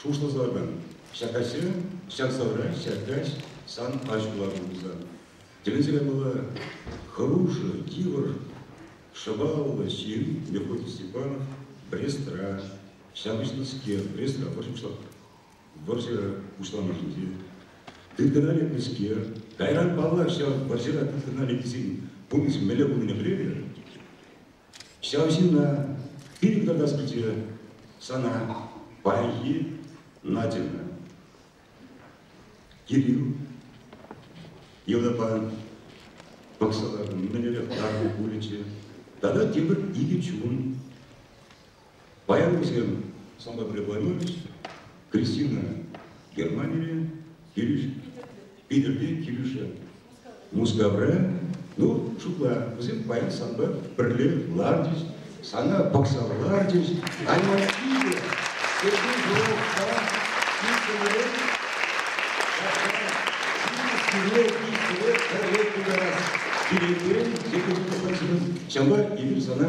Шухӑшласа-мӗн, ҫак каҫе ҫак савра ҫак каҫ сан пач кулатӑн пулсан, тӗлӗнсе каймалла, хӑрушӑ, йывӑр, шӑпаллӑ ҫын Мефодий Степанов Брестра, ҫапӑҫнӑскер, Брестра вӑрҫӑ пуҫланнӑ. Вӑрҫӑ пуҫланнӑшӑн те тыткӑна лекнӗскер, кайран паллах ҫав вӑрҫӑра тыткӑна лекнисен пурнӑҫ мӗнле пулнине пӗлетӗр? Ҫав ҫынна хӑй кӑтартас килчӗ сана паянхи Надьӑна. Кирилл йӑлапа пӑхсалар мӗнле хӑтару пулӗччӗ тата тепӗр икӗ чун Паян-кун самое прикольное Кристина Германие Питӗрте килӗшӗ. Мускавра, ну, шутла, вӗсем паян санпа пӗрле лартӗҫ, сана пӑхса лартӗҫ, анне питӗ, кӗтӳ журналта иккӗмӗре, сире иккӗре пӗрле тутарас килекен Екатерина Александровна, ҫавӑнпа эпир сана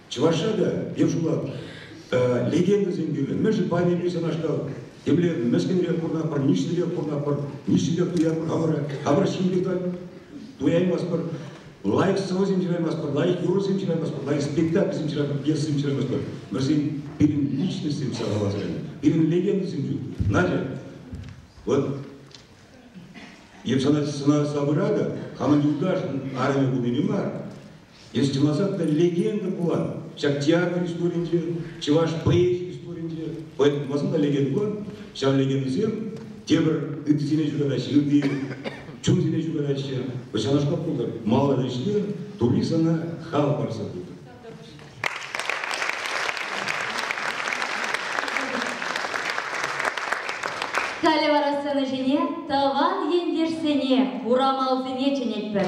Чӑвашра та пек шулат легендӑсем кӳлӗн. Мӗншӗн патӗрен ҫавнашкал темле мӗскӗнрех курнапӑр, нишлӗрех курнапӑр, нишлӗрех туятпӑр, хамӑра, хамӑра ҫимлӗх та туяймастпӑр, лайӑх сӑвӑсем ҫыраймастпӑр, лайӑх юрӑсем ҫырамастпӑр, лайӑх спектакльсем ҫырам, пьесӑсем ҫырамастпӑр. Вӗсен пирӗн личностьсем сахалласран, пирӗн легендӑсем ҫук. Надя, вот эп сана, сана савӑра та, хамӑн юлташӑн арӑмӗ пулнине мар, Эс чӑваса пӗр легенда пулан. Ҫак театр историйӗнче, чӑваш поэзи историйӗнче поэт пулмасан та легенда пулан. Ҫав легендӑсем тепӗр ыттисене ҫуранаҫҫӗ, ытти чунсене ҫуранаҫҫӗ. Ҫавнашкал пултӑр. Маларан ӗҫле, тулли сана хал парса пытӑр. Халӗ вара сцена ҫине тӑван ентешсене, урамалсене чӗнетпӗр.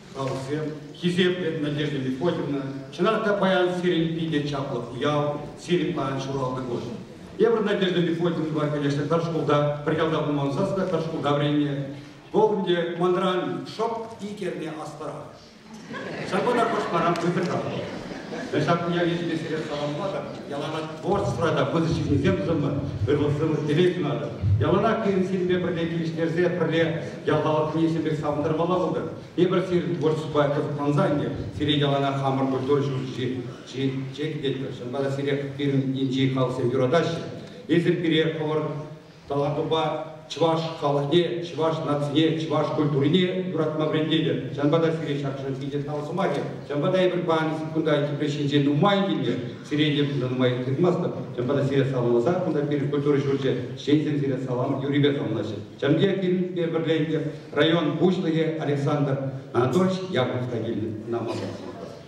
Халӑхсем, хисеплӗ Надежда Мефодьевна, чӑнах та паян сирӗн питӗ чаплӑ уяв, сирӗн паян ҫуралнӑ кун. Эпир Надежда Мефодьевнӑпа килӗшнӗ пӗр шкулта, пӗр ялта пулма ӑнсас та пӗр шкулта вӗреннӗ. Вӑл ӗнтӗ манран шӑп ик эрне аспара. Ҫавӑнпа та хӑш парам хытӑртатпӑр. Ҫакӑн ячӗпе сире саламлатӑп. Яланах творчествӑра та пысӑк ҫыннисем пулӑшӑмӑр, ырмӑхсӑрлӑх телей сунатӑп. Яланах пирӗн сирӗнпе пӗрле килӗштерсе, пӗрле ял халӑхне ӳсӗмпе савӑнтармалла пултӑр. Эпир сирӗн творчествӑпа кӑсӑкланса ӗнтӗ, сире яланах хамӑр культура ҫурчӗнче ҫитетпӗр. Ҫавӑнпа та сире пирӗн енчи халӑхсем юратаҫҫӗ. Эсир пире хӑвӑр тӑватӑпа чӑваш халӑхне, чӑваш нацине, чӑваш культурине юратма вӗрентетӗп. Ҫавӑнпа та сире ҫаршӑн питӗ тав сӑмахӗ. Ҫавӑнпа та эпир паян кунта тепре ҫинчен нумай килнӗ. Сире те кунта нумай тытмастӑп. Ҫавӑнпа та сире саламласа кунта пирӗн культура ҫурчӗ ҫынсем сире салам юррипе саламлаҫҫӗ. Ҫамье килнипе пӗрле район пуҫлӑхӗ Александр Анатольевич Яковлев та килнӗ. Ӑна малтан сӑмахлас.